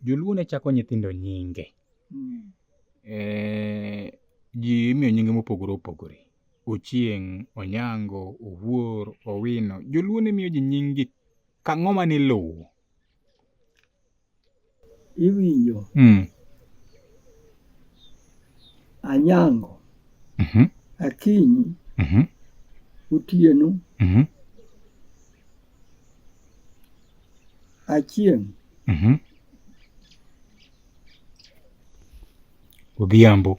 Joluo ne chako nyithindo nyinge. Mm. Eh, ji imiyo nyinge mopogore opogore. Ochieng', Onyango, Owuor, Owino. Joluo ne miyo ji nyingi ka ng'oma ne lowo. Iwinjo. Mm. Anyango. Mm -hmm. Akinyi. Mm -hmm. Otieno. Mm -hmm. Achieng'. Mm -hmm. Odhiambo.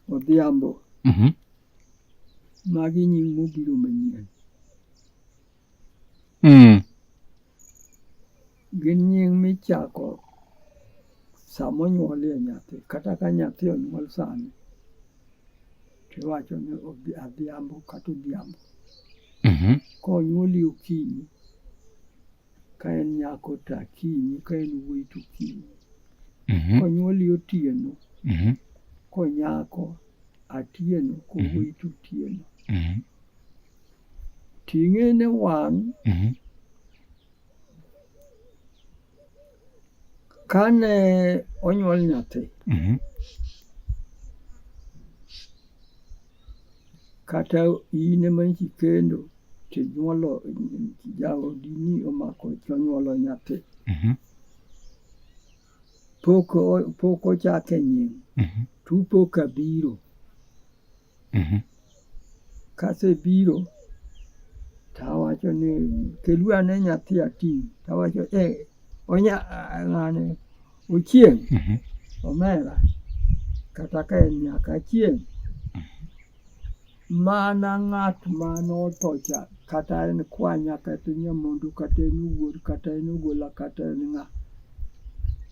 Odhiambo. Mm -hmm. Magi nying mobiro manyien. Mm. Gin nying michako sama onyuolie nyathi kata ka nyathi onyuol sani. Iwacho ni odhi adhiambo kata odhiambo. Mhm. Konyuoli okinyi, ka en nyako to akinyi, ka en wuoyi to okinyi. Mhm. Konyuoli otieno, Mhm. konyako atieno, kowuoyi to otieno. Mhm. Ting'e ne wang' Mhm. Kane onyuol nyathi, Mhm. kata in ema nchi kendo tinyuolo jaodini omako tonyuolo nyathi, Mhm. pok o- pok ochake nying, Mhm. tupo kabiro. Mhm. Kasebiro tawacho ni keluru ane nyathi ating'. Tawacho eh, onya ah, ng'ane Ochieng', Mhm. omera kata ka en nyaka Achieng'. Mana ng'at ma notho cha kata en kwanya kata en nyamondu kata en wuor kata en ogola kata en ng'a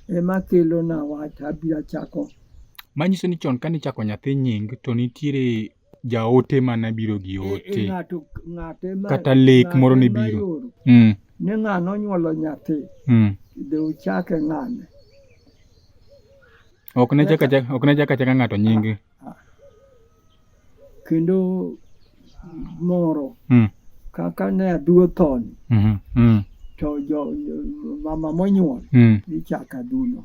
ema kelona wach abiro chako Manyiso ni chon kane ichako nyathi nying to nitiere jaote mane biro gi e, e, ote kata lek moro ne biro mm. ni ng'ano onyuolo nyathi mm. de uchake ng'ane ok ne chaka chaka ng'ato nyinge ah, ah. kendo moro mm. kaka ne aduo thoni mm-hmm. mm. to jo, mama monyuol mm. ichako aduno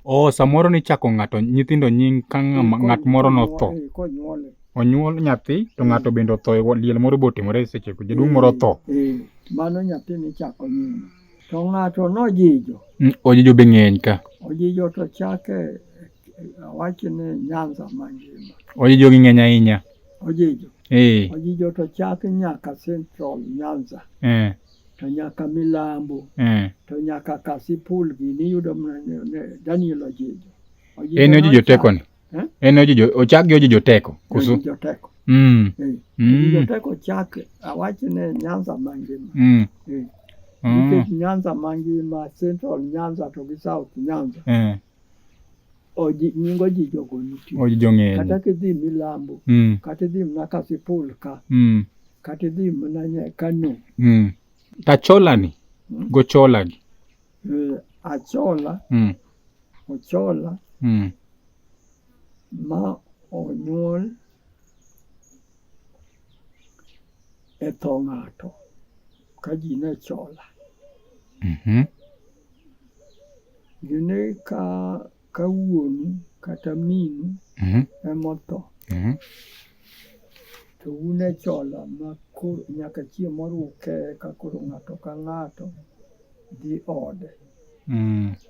oh, samoro nichako ng'ato nyithindo nying ka ng'at moro notho onyuol nyathi to mm. ng'ato bende otho e liel moro botimore e sechego jaduong' moro otho mm. mm. mano nyathi nichako nying to ng'ato nojijo ojijo be ng'eny ka ojijo to chake Awacho ni Nyanza mangima. Ojijo gi ng'eny ahinya. Ojijo. Eh. Ojijo to chak nyaka Central Nyanza. Eh. To nyaka Milambo. Eh. To nyaka Kasipul gini iyudo mana Daniel Ojijo. Ojijo en ojijo teko ni. Eh? En ojijo ochak gi ojijo teko. Kusu. Ojijo teko. Mm. Eh. Mm. Ojijo teko chak awacho ni Nyanza mangima. Mm. Eh. Mm. Nyanza mangima, Central Nyanza to gi South Nyanza. Eh. nying ojijogo nitie ojijong'eni kata kidhi milambo mm. kata idhi mana kasipul ka mm. kata idhi mana kano mm. tacholani mm. gocholagi e, achola mm. ochola mm. ma onyuol e tho ng'ato ka ji ne chola mm -hmm. Gine ka ka wuonu kata minu mhm. emotho mhm. to un e chola ma nyaka chieng' moro uke ka koro ng'ato ka ng'ato dhi ode. Mm.